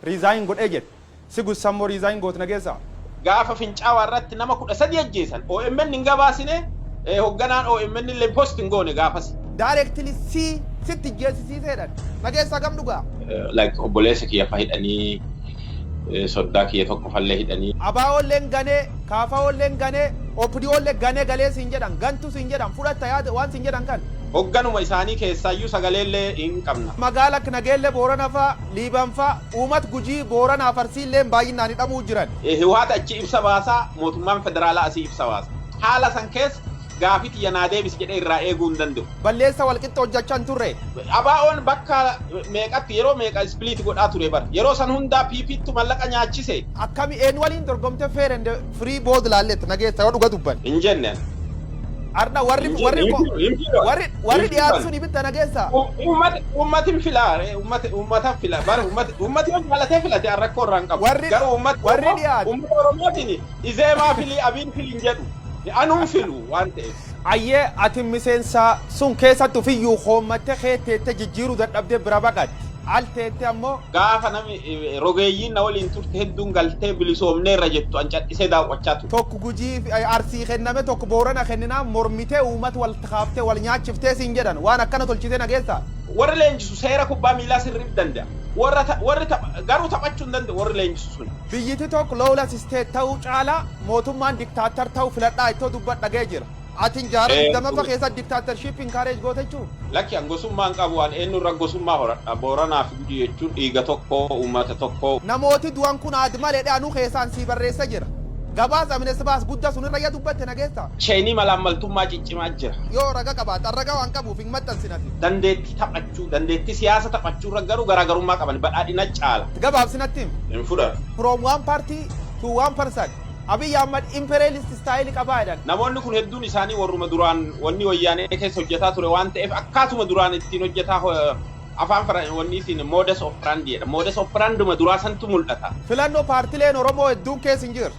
Resign godhee jedhe. Si gussan moo resign gootna keessaa? Gaafa fincaawaa irratti nama 13 ajjeesan omn hin gabaasine, hogganaan omn illee post hin goone gaafasi. Directly si sitti ijjeessisiise jedhan. Dhageessa hagam dhugaa? Like obboleessa kiyya fa hidhanii soddaa kiyya tokkofallee hidhanii. ABOlleen ganee, KFOlleen ganee, OPDOllee gane galee siin jedhan, gantu siin jedhan, fudhatta yaada waan siin jedhan kan. Hogganuma isaanii keessaayyuu sagaleellee hin qabna. Magaala akka Nageellee Boorana faa, Liiban faa, uumat Gujii, Booranaaf Arsiilleen baayyinnaan hidhamuu jiran. Hiwhaat achii ibsa baasa, mootummaan federaalaa asii ibsa baasa. Haala san keessa gaafii tiyya naa deebisi jedhee irraa eeguu hin danda'u. Balleessa walqixxe hojjachaa hin turre. ABOn bakka meeqatti yeroo meeqa split godhaa ture bar. Yeroo san hundaa PPttu mallaqa nyaachise. Akkami eenyu waliin dorgomte fair and free vote laalletta na geessa yoo dhuga dubbanne. Hin jenne ani. Ardha warri Hin warri jenne ko- hin filan. warri Hin warri dhiyaatu filan. sun ibitta na geessa. Ummati ummati hin filaa ree ummati ummata fila bar ummati ummati yoo jaalatee filate an rakkoo irraa hin qabu. Warri- Garuu ummati warri Oromoo dhiyaatu. ummata Oromootiin Izeemaa filii Abiin fili hin jedhu. Anu hin filu waan ta'eef. Ayyee ati miseensa sun keessatti ofiyyuu hoommatte kee teette jijjiiruu dadhabdee bira baqatte. Al teette ammoo. Gaafa nami rogeeyyiin na waliin turte hedduun galtee bilisoomneerra jettu an cadhisee daawwachaa ture. Tokko Gujii fi Arsii kenname tokko Boorana kenninaan mormitee uummata walitti kaaftee wal nyaachiftee siin jedhan. Waan akkana tolchitee dhageessaa? Warri leenjisu seera kubbaa miilaa sirriif danda'a. Warri tapha garuu taphachuu hin danda'u warri leenjisu sun. Biyyiti tokk lawless state ta'uu caalaa mootummaan dictator ta'uu filadhaa ittoo dubbat dhaga'e jira. Atin jaara Ee, digdamaffa dhuga. keessatti dictatorship encourage goote jechuu? Lakki an gosummaa hin qabu an eennu irra gosummaa horadha Booranaa fi Gujii jechuun dhiiga tokko uummata tokko. Namooti du'an kun aad male dhe anu keessaan sii barreessa jira. Gabaas Amnesty baas gudda sun irra ya dubbatte nageessa? Cheenii malaammaltummaa ciccimaa jira. Yoo raga qabaatte an raga waan qabuuf hin maxxansin ati. Dandeetti tapha qabaachuu, dandeettii siyaasa taphachuurra garuu garaagarummaa qaban badhaadhina caala. Gabaabsi natti himi. hin fudhatu. From one party to one person Abiy Ahmad imperialist style qabaa jedhan. Namoonni kun hedduun isaanii warruma duraan wanni Wayyaanee keessa hojjataa ture waan ta'eef akkaatuma duraan ittiin hojjataa afaan fara wanni siin modus operandi jedha. Modus operanduma duraa santu mul'ata. Filannoo paartileen Oromoo hedduun keessa hin jirre.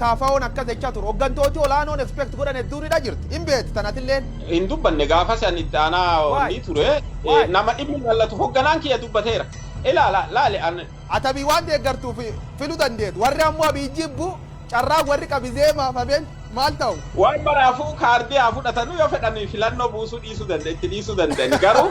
KFOn akkas jecha ture. Hoggantooti olaanoon expect godhan hedduun hidha jirti. Hin beeti tan atilleen. Hin dubbanne gaafasi ani itti aanaa onnii ture. Nama dhibni lallatu hogganaan kiyya dubbateera. Ilaala laali an. Ati Abiy waan deeggartuuf filu dandeet. Warri ammoo Abiy jibbu carraan warri qabi zeemaaf hafeen maal ta'u? Waan maraafuu kaardii haa fudhatanu yoo fedhan filannoo buusuu dhiisuu danda itti dhiisuu danda'ani. Garuu.